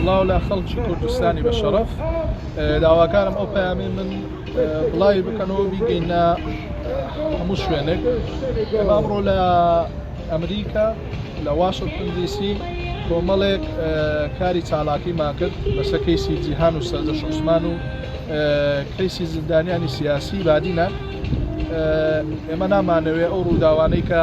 سڵاو لە خەڵکی کوردستانی بە شەڕەف داواکارم ئەو پەیامی من بڵاوی بکەنەوە بیگەینە هەموو شوێنێک ئەمڕۆ لە ئەمریکا لە واشنگتن دیسی کۆمەڵێک کاری چالاکیمان کرد لەسە کەیسی جیهان و سەردە شوسمان و کەیسی زیندانیانی سیاسی بادینە ئێمە نامانەوێ ئەو ڕووداوانەی کە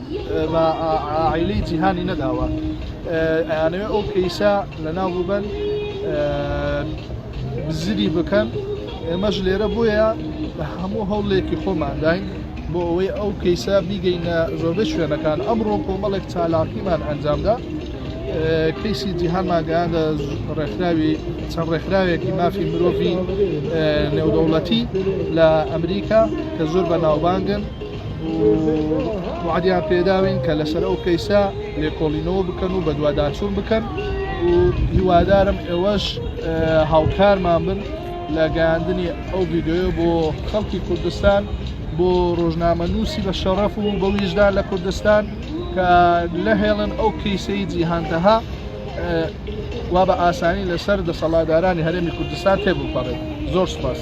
بە عائیلەی جیهانی نەداوە ئەیانەوێ ئەو کەیسە لەناو ببەن بزری بکەن ئێمەش لێرە بۆیە هەموو هەوڵێکی خۆمانداین بۆ ئەوەی ئەو کەیسە بیگەینە زۆربەی شوێنەکان ئەمڕۆ کۆمەڵێک چالاکیمان ئەنجامدا کەیسی جیهانمان گەیاندە ڕێکخراوی چەند ڕێکخراوێکی مافی مرۆڤی نێودەوڵەتی لە ئەمریکا کە زۆر بە ناوبانگن وعدیان پێداوین کە لەسەر ئەو کەیسە لێکۆڵینەوە بکەن و بەدواداچوون بکەن و هیوادارم ئێوەش هاوکارمان بن لە گەاندنی ئەو ڤیددیوە بۆ خەڵکی کوردستان بۆ ڕۆژنامە نووسی بە شەڕەف و بە ویژدان لە کوردستان کە لەهێڵن ئەو کەیسەی جیهانتەها وا بە ئاسانی لەسەر دەسەڵادارانی هەرێمی کوردستان تێبپەڕێت زۆر سپاس.